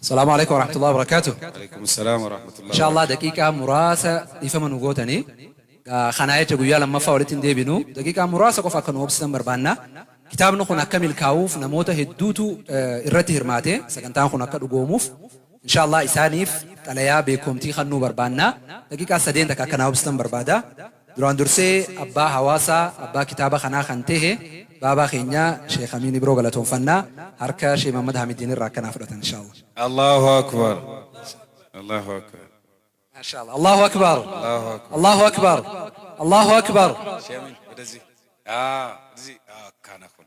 Salaamu Aleeykum Warahmatullahi Wabarakaatuh. Aleeykum Salaam Warahmatullahi Inshaa Allaah Wabarakaatuh. daqiiqaa muraasa dhiifama nu gootanii gaa kanaa jecha guyyaa lammaffaa walitti hin deebinu daqiiqaa muraasa qofa akka nu obsitan barbaanna. Kitaabni kun akka milkaa'uuf namoota hedduutu eh, irratti hirmaate sagantaan kun akka dhugoomuuf Inshaa Allaah isaaniif xalayaa beekomtii kannuu barbaanna. Daqiiqaa sadeen takka akka naa obsitan barbaada. Duraan dursee abbaa hawaasaa, abbaa kitaaba kanaa kan tehe baabaa keenya Sheikh Amiin Ibroo galatoomfanna. Harka Sheikh Mahammad Haamidiin irraa akka naa fudhatan inshaa'Allah. Allahu Akbar Allahu Akbar. Mashallah Allahu Akbar Allahu Akbar. Allahu Akbar Allahu Akbar. Sheikh Amiin wadazi. Aa wadazi. Aa kana kun.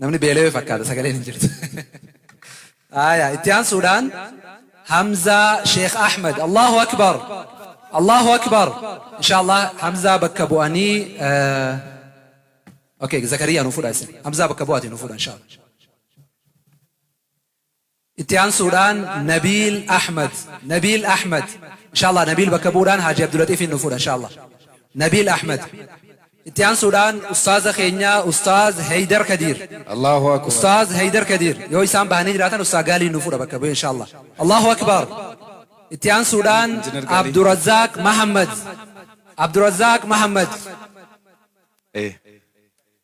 Namni beelawe fakkaata sagaleen hin jirtu. Aaya itti aansuudhaan Hamzaa Sheekh Ahmed Allahu Akbar Allahu Akbar inshaallah Hamzaa bakka bu'anii okay Zakariyaa nu fudha isin Hamzaa bakka bu'aati nu fudha inshaallah Itti aansuudhaan Nabiil Ahmad Nabiil Ahmad Inshaallah Nabiil bakka bu'uudhaan Haaji Abdulaxiifiin nuuf fuudha Inshaallah Nabiil Ahmad Itti aansuudhaan Ustaaza keenya Ustaaz Heydar Kadiir Allahu Akbar. Ustaaz Heydar Kadiir yoo isaan bahanii jiraatan Ustaaz Gaaliin nuuf fuudha bakka bu'ee Inshaallah Allahu Akbar Itti aansuudhaan Engineer Gaalii. Abdurazaaq Mahammad Abdurazaaq Mahammad Ee.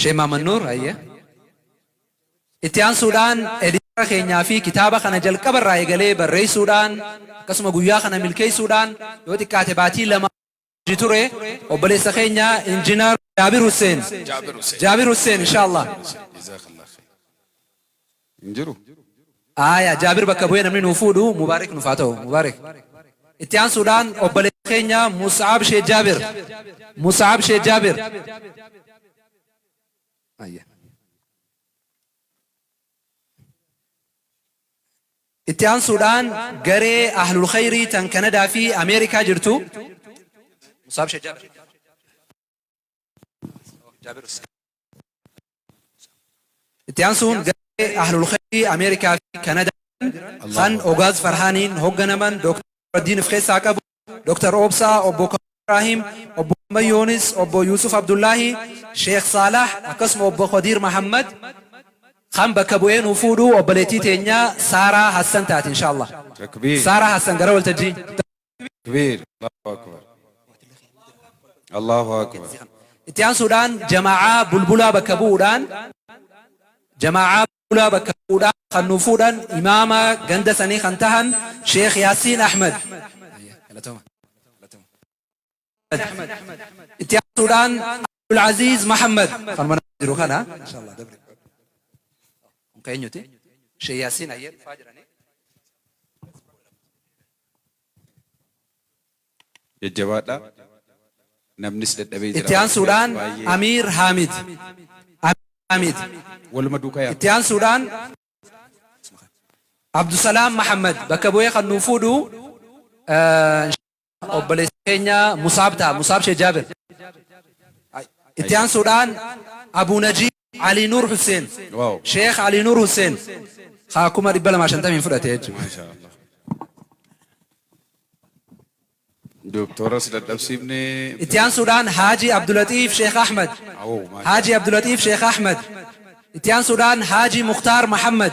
Shee Maamad Nuur hayyee. Itti aansuudhaan editara keenyaa fi kitaaba kana jalqaba irraa eegalee barreessuudhaan akkasuma guyyaa kana milkeessuudhaan yoo xiqqaate baatii lama hojii ture obboleessa keenya injinar Jaabir Hussein. Jaabir Hussein. Jaabir Hussein inshaallah. Jazakallah khair. hin jiru. Aaya Jaabir bakka bu'ee namni nuu fuudhu Mubaarik nuuf haa ta'u. Mubaarik. Itti aansuudhaan obboleessa keenya Mus'ab Sheikh Jaabir. Mus'ab Sheikh Jaabir. Ayya. Itti aansuudhaan garee Ahlul Khayrii tan Kanadaa fi Ameerikaa jirtu Mus'ab Sheikh Jaabir. Itti aansuun garee Ahlul Khayrii Ameerikaa fi Kanadaa jiran kan Ogaaz Farhaaniin hogganaman Dr. Nuraddiin of keessaa qabu, Dr. Obsaa, Obbo Kamaal Ibraahim, Obbo Ahmad Yoonis, Obbo Yuusuf Abdullaahi, Sheekh Saalaah akkasuma Obbo Khadiir Mahammad kan bakka bu'ee nu fuudhu obboleettii teenya Saaraa Hassan taati inshaa Allah. Takbiir. Saaraa Hassan gara waltajjii. takbiir Allahu akbar Allahu akbar itti aansuudhaan jamaa'aa bulbulaa bakka bu'uudhaan jamaa'aa bulbulaa bakka bu'uudhaan kan nuuf fuudhan imaama ganda sanii kan tahan Sheekh Yaasiin Ahmed Itti aansuudhaan Abdul Aziz Muhammad kan mana jiru kana inshallah dabri. Kun keenyuti. Sheikh Yasin Ayyad faa jiranii. Jajjabaadha. Namnis dadhabee jira. Itti aansuudhaan Baay'ee Amiir Haamid. Amiir Haamid. Waluma duukaa yaadu. Itti aansuudhaan Abdusalaam Muhammad bakka bu'ee kan nuuf fuudhu eh, obboleessa keenya Musaab ta'a. Musaab Shee Jaabir. Itti aansuudhaan Abuu Najiib Alii Nuur Husseen. Waaw. Sheekh Alii Nuur Husseen. Haa kuma 250 fudhate jechuudha. Maashaa Allah. Dooktoras dadhabsiifne. Itti aansuudhaan Haaji Abdulatiif Sheekh Ahmad. Awoo, maashaa Haaji Abdulatiif Sheekh Ahmad. Itti aansuudhaan Haaji Muktaar Mahammad.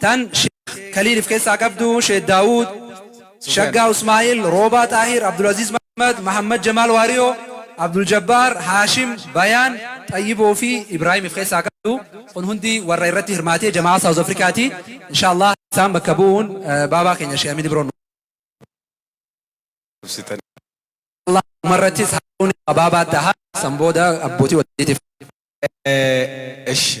Tan Sheikh Khalil if keessaa qabdu, Sheikh Daawud, Shaggaa Usmaa'il, Roobaa Xaahir, Abdulaziz Mahmad, Mahammad Jamaal Waariyoo, Abdul Jabbaar, Haashim, Bayaan, Xayyiboo fi Ibraahim if keessaa qabdu. Kun hundi warra irratti hirmaatee jama'aa South Africa ti. Inshallah isaan bakka bu'uun baabaa keenya Sheikh Amin Ibroon Allah umarrattis haadhuun baabaa taha san booda abbootii wajjiitiif. Eshi.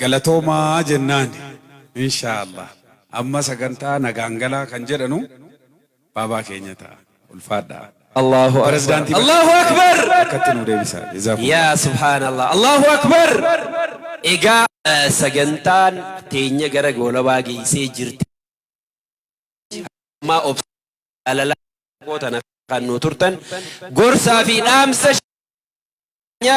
Galatoomaa jennaan inshaa allaah amma sagantaa nagaan galaa kan jedhanu baabaa keenya ta'a. Ulfaadhaa. Allaahu Akbar Pirezidaantii Allaahu Bashir Akbar bakkatti nuu deebisaa. Yaa Jazaakumullah. subhaanallah Allaahu Akbar Egaa eh, sagantaan teenya gara goolabaa geessee jirti. Ammaa obsa jaalalaa xiqqoo tana kan nu turtan gorsaa fi dhaamsa keenya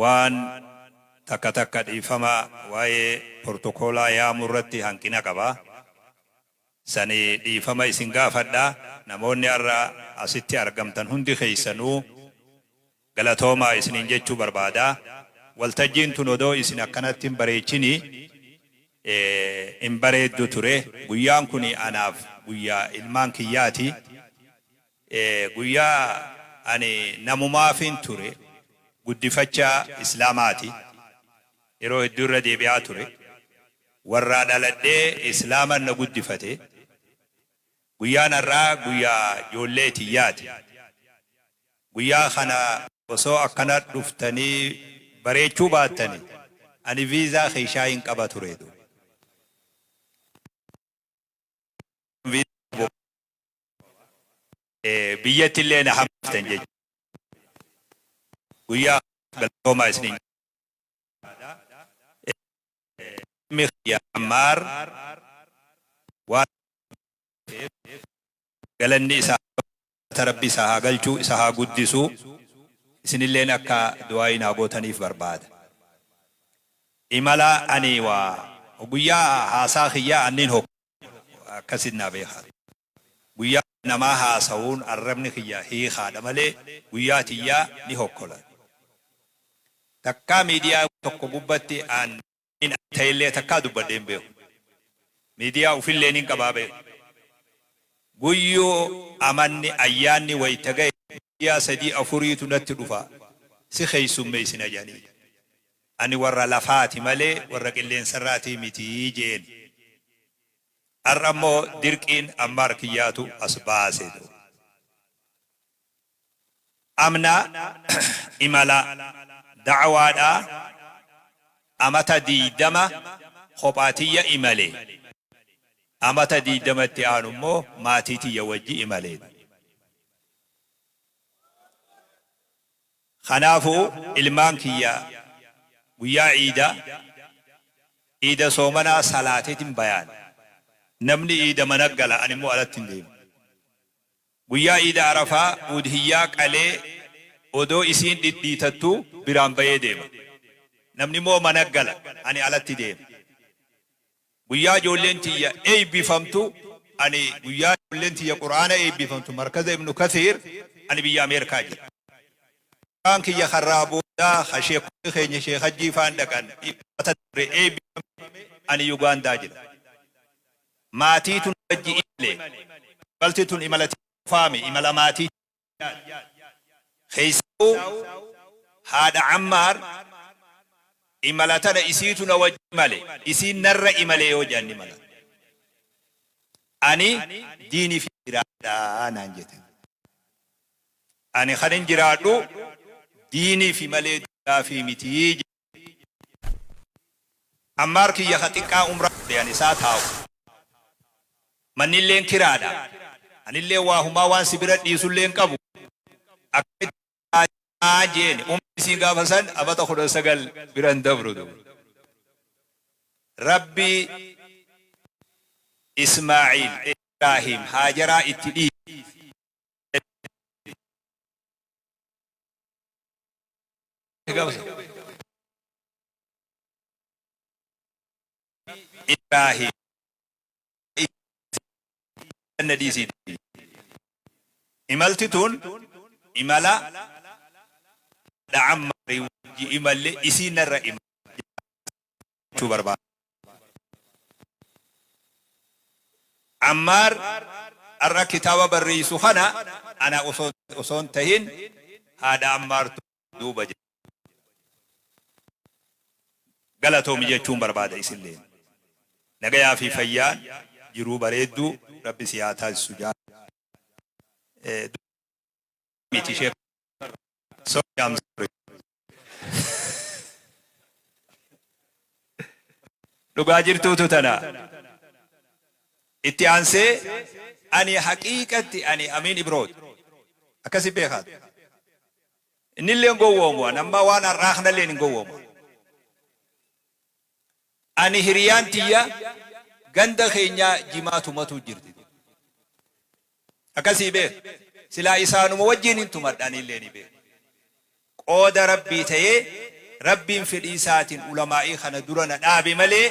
Waan takka takka dhiifama waa'ee portokoolaa yaamuu irratti hanqina qaba. Sani dhiifama isin gaafadha. Namoonni har'a asitti argamtan hundi keessanuu galatoomaa isiniin jechuu barbaada. Waltajjiin tun odoo isin akkanatti hin bareechini hin bareeddu ture. Guyyaan kuni anaaf guyyaa ilmaan kiyyaati. Guyyaa ani namumaafin ture guddifacha islaamaati yeroo hedduu irra deebi'aa ture warraa dhaladhee islaaman na guddifate guyyaan har'aa guyyaa joollee tiyyaati guyyaa kana osoo akkana dhuftanii bareechuu baattani ani viizaa keeshaa hin qaba ture du. biyyatti illee na hambiftan jechuudha. Guyyaa galatoomaa isiniin jedha. Ilmi kiyya Ammaar waan galanni isaa rabbi isa haa galchuu isa haa guddisuu isinilleen akka du'aayi naa gootaniif barbaada. Imala ani waa guyyaa haasaa kiyyaa anniin hokku. Akkasiin naa beekaa ture. Guyyaa ani namaa haasawuun arrabni kiyya hiikaadha malee guyyaa tiyyaa ni hokkola. Takkaa miidiyaa tokko gubbatti an hin ani ta'ellee takkaa dubbadhee hin beeku. Miidiyaa ufillee nin qabaa beeka. Guyyuu amanni, ayyaanni wayta gahe miidiyaa sadii afuriitu natti dhufa si keessummeessina jedhanii. Ani warra lafaa ti malee warra qilleensa irraa ti miti je'een. Ar'a immoo dirqiin Ammaar kiyyaatu as baase. Amna imala da'awaadhaa amata 20 kophaa tiyya imale. Amata 20 itti aanu immoo maatii tiyya wajji imale. Kanaafuu ilmaan kiyya guyyaa iida iida soomanaa salaateetin bayaan. Namni iida mana gala ani immoo alatti hin deemu. Guyyaa iida arafaa uudhiyyaa qalee odoo isiin dhidhiitattuu biraan bayee deema. Namni immoo mana gala ani alatti deema. Guyyaa ijoolleen tiyya eeybifamtu Ani guyyaa ijoolleen tiyya Qur'aana eeybifamtu Markaza Ibnu Kathiir Ani biyya Ameerkaa jira. Mucaan kiyya karraa booda ka sheekkonni keenya Sheekh Hajjii faan dhaqan Dilbata dabre eeybifame Ani Yugaandaa jira. Maatiitu na wajji imale. Imalti tun imala tiyya qofaami, imala maatiiti. Keessahuu haadha Ammaar imala tana isiitu na wajji imale, isiin narra imale yoo je'an ni malata. Ani diinii fi jiraadha naan jete. Ani kanin jiraadhu diinii fi malee duniyaa fi miti je'e. Ammaar kiyya ka xiqqaa umraa godhe ani isaa taa'u. Mannilleen kiraadha. Anilleen waa humaa waan si bira dhiisullee hin qabu. Akkamitti si taajaa? jeeni. Umriin isiin gaafa san amata 19 bira hin dabru ture. Rabbi Ismaa'iil, Ibraahiim, Haajaraa itti dhiise. gabasa Ibrahim janna dhiisii imalti tun imala da'ammaari wajji imalle isiinarra imala jechuu barbaada. Ammaar har'a kitaaba barreessu kana ana osoo hin tahin haadha Ammaartu duuba jira. Galatoomi jechuun barbaada isilleen. Nagayaa fi fayyaan jiruu bareedduu Rabbi si haa taasisu jaalala. Dubbii miti sheeka irraa. Sorry I'm sorry. dhugaa jirtuutu tana itti aansee ani haqiiqatti ani amiin ibroot akkasi beekaat innillee hin gowwoomu an amma waan har'aa kanallee hin gowwoomu Ani hiriyaan tiyya ganda keenyaa jimaa tumatuu jirti dur. Akkasii beeka. Silaa isaanuma wajjiin hin tumadha anillee ni beeka. Qooda Rabbii ta'ee Rabbiin fedhii isaatiin ulamaa'ii kana dura na dhaabe malee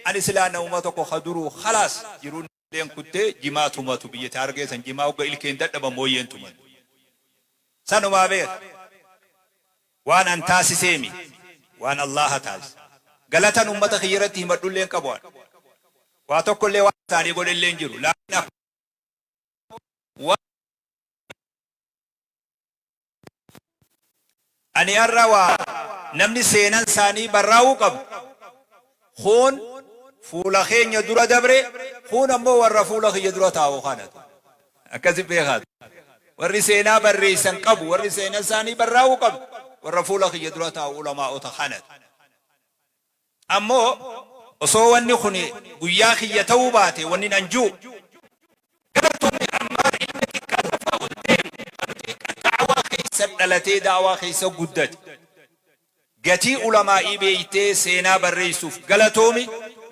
ani silaa namuma tokko ka duruu khalaas jiruu Ilkeen kuttee jimaa tumatu biyyati harargee san jimaa hogga ilkeen dadhaban mooyyeen tumatu. Sanumaa beeka. Waan an taasisee miti. Waan Allaaha taasise. Galatan ummata kiyya irratti himadhu illee hin qabu an. Waa tokko illee waan isaanii godhe illee hin jiru. Laakiin akkuma waan Ani har'a waan namni seenan isaanii barraa'uu qabu, kuun fuula keenya dura dabre, kuun ammoo warra fuula kiyya dura taa'u kana tu. Akkasi beekaa tu. Warri seenaa barreessan qabu, warri seenan isaanii barraa'uu qabu, warra fuula kiyya dura taa'u ulamaa'ota kana tu. Ammoo osoo wanni kun guyyaa kiyya ta'uu baate wannin an ju'u. Gar tolli armaan ilmi xiqqaan lafaa ol deemu kan xiiqqan da'awaa keessa dhalatee da'awaa keessa guddate. Gatii ulamaa'ii beeytee seenaa barreeysuuf galatoomi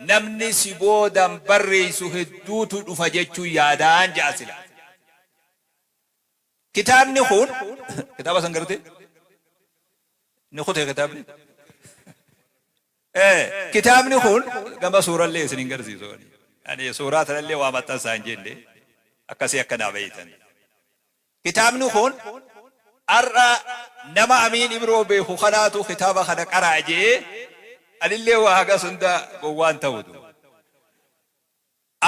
namni si boodan barreeysu hedduutu dhufa jechuun yaadaan ja'a silaa. Kitaabni kun kitaaba san gartee ni kutee kitaabni ee kitaabni kun gama suurallee isin hin garsiisu ani ani suuraa tanallee waa maxxansaa hin jenne akkasii akka naa beeytan kitaabni kun har'a nama amiin ibroo beeku kanaatu kitaaba kana qaraa je'ee anillee waa hagas hunda gowwaan ta'utu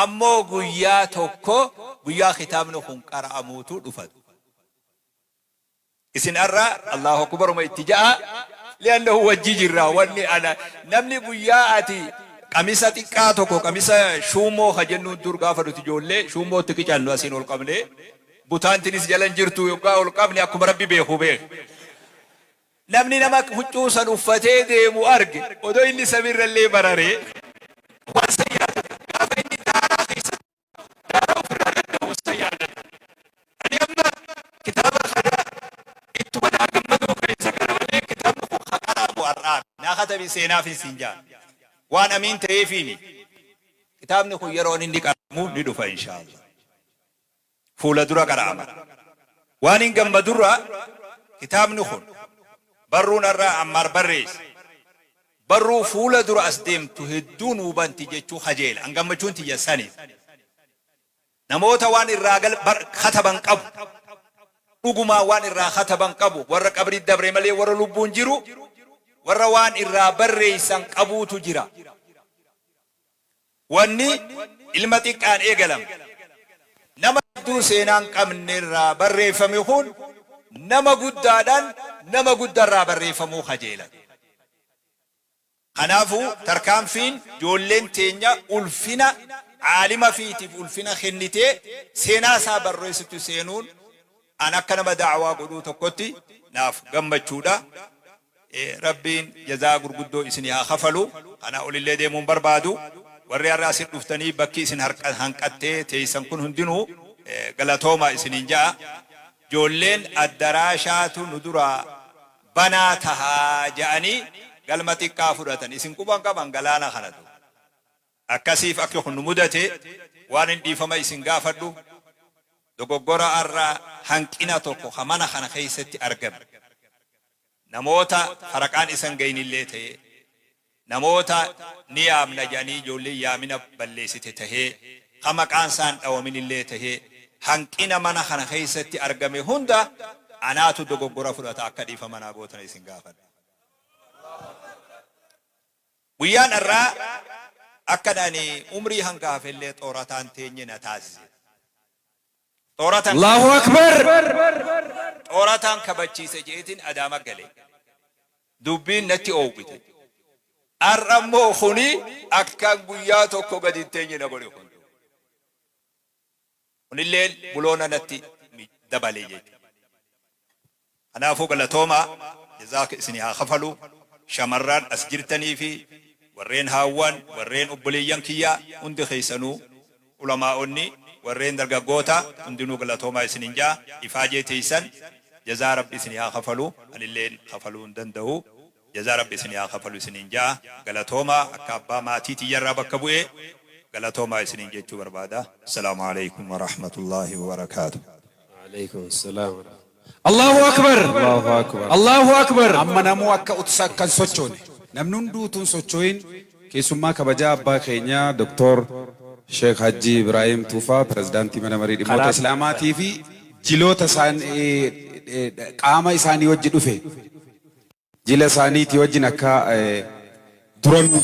Ammoo guyyaa tokko guyyaa kitaabni kun qara'amuutu dhufat. Isin arra Allaahu Akbaruma itti ja'aa, li'annahu wajji jirra, wanni ana, namni guyyaa ati, qamisa xiqqaa tokko, qamisa shuummoo ka jennuun dur gaafa nuti ijoollee shuummoo itti qicannu asiin ol qabnee, butaan tinis jala hin jirtu, yoggaa ol qabne akkuma Rabbi beeku beekh. Namni nama huccuu san uffatee deemu arge, odoo inni samii irrallee bararee, waan san yaadata. Gaafa inni daaraa keessa taa'u, daaraa uf irraa gad dhowwu san yaadata. Ani amma kitaaba kana ittuma naa gammaduu keessa gara malee kitaabni kun ka qara'amu ar'aa miti. Naa katabi seenaafin siin ja'a. Waan amiin ta'eefii miti. Kitaabni kun yeroon inni qara'amu ni dhufa inshaa Allaah. fuula dura qara'ama. Waanin gammadurraa kitaabni kun barruun har'a Ammaar barreesse barruu fuula dura as deemtu hedduu nuu banti jechuu kajeela. An gammachuun tiyya sani. Namoota waan irraa kataban qabu. Dhugumaan waan irraa kataban qabu. Warra qabrii dabre malee warra lubbuun jiru warra waan irraa barreessan qabuutu jira. Wanni ilma xiqqaan eegalame. Nama hedduu seenaa hin qabne irraa barreeffame kun nama guddaadhaan nama gudda irraa barreeffamuu kajeelan. Kanaafu tarkaanfiin joolleen teenya ulfina aalima fiitiif ulfina kennitee seenaa isaa barreessutti seenuun, An akka nama da'awaa godhuu tokkotti naaf gammachuudha. Rabbiin jazaa gurguddoo isinii haa kafalu. Kanaa olillee deemuu hin barbaadu. Warri har'a asir dhuftanii bakki isin hanqattee teessan kun hundinuu galatoomaa isiniin ja'a. Ijoolleen addaraashaatu nu duraa banaa taha ja'anii galma xiqqaa fudhatan. Isin quba hin qaban galaana kanatu. Akkasiif akki kun nu mudate waanin dhiifama isin gaafadhu dogoggora arra hanqina tokko ka mana kana keessatti argame namoota faraqaan isa hin gahinillee tahee namoota ni yaamna jedhanii ijoolleen yaamina balleessite tahee ka maqaan isaa hin dhawaminillee tahee hanqina mana kana keessatti argame hunda anaatu dogoggora fudhata akka dhiifama naa gootan isin gaafadha. Guyyaan har'aa akkan ani umrii hanga hafe illee xoorataan teenye na taasise. Xooratan Allaahu akbar! xoorataan kabachiise je'eetiin Adaama gale. Dubbiin natti oowwite. Har'a immoo kuni akkan guyyaa tokko gadi hin teenye na godhe kun. Kunilleen buloona natti dabale jechuudha. Kanaafuu galatoomaa jazaaka isinii haa kafalu shamarraan as jirtanii fi warreen haawwan warreen obboleeyyan kiyyaa hundi keessanuu ulamaa'onni warreen dargaggoota hundinuu galatoomaa isinin ja'a ifaajee teessan jazaa rabbi isinii haa kafalu anilleen kafaluu hin danda'u jazaa rabbi isinii haa kafalu isiniin ja'a galatoomaa akka abbaa maatii tiyya irraa bakka bu'ee galatoomaa isiniin jechuu barbaada. Assalaamu Aleeykum Warahmatullaahi Wabarakaatuh. Wa'aleeykum Assalam Warahmatullaahi Allaahu Akbar Allaahu Akbar Allaahu Akbar Amma namuu akka utsa akka hin sochoone namni hunduu utuu hin sochoo'in keessummaa kabajaa abbaa keenya Dr. Sheikh Hajji Ibraahim Tuufaa Pirezidaantii Mana Marii Dhimmoota Kanaaf- Islaamaatii fi jiloota isaan qaama isaanii wajji dhufe Jila isaaniitii wajjin akka duranuu.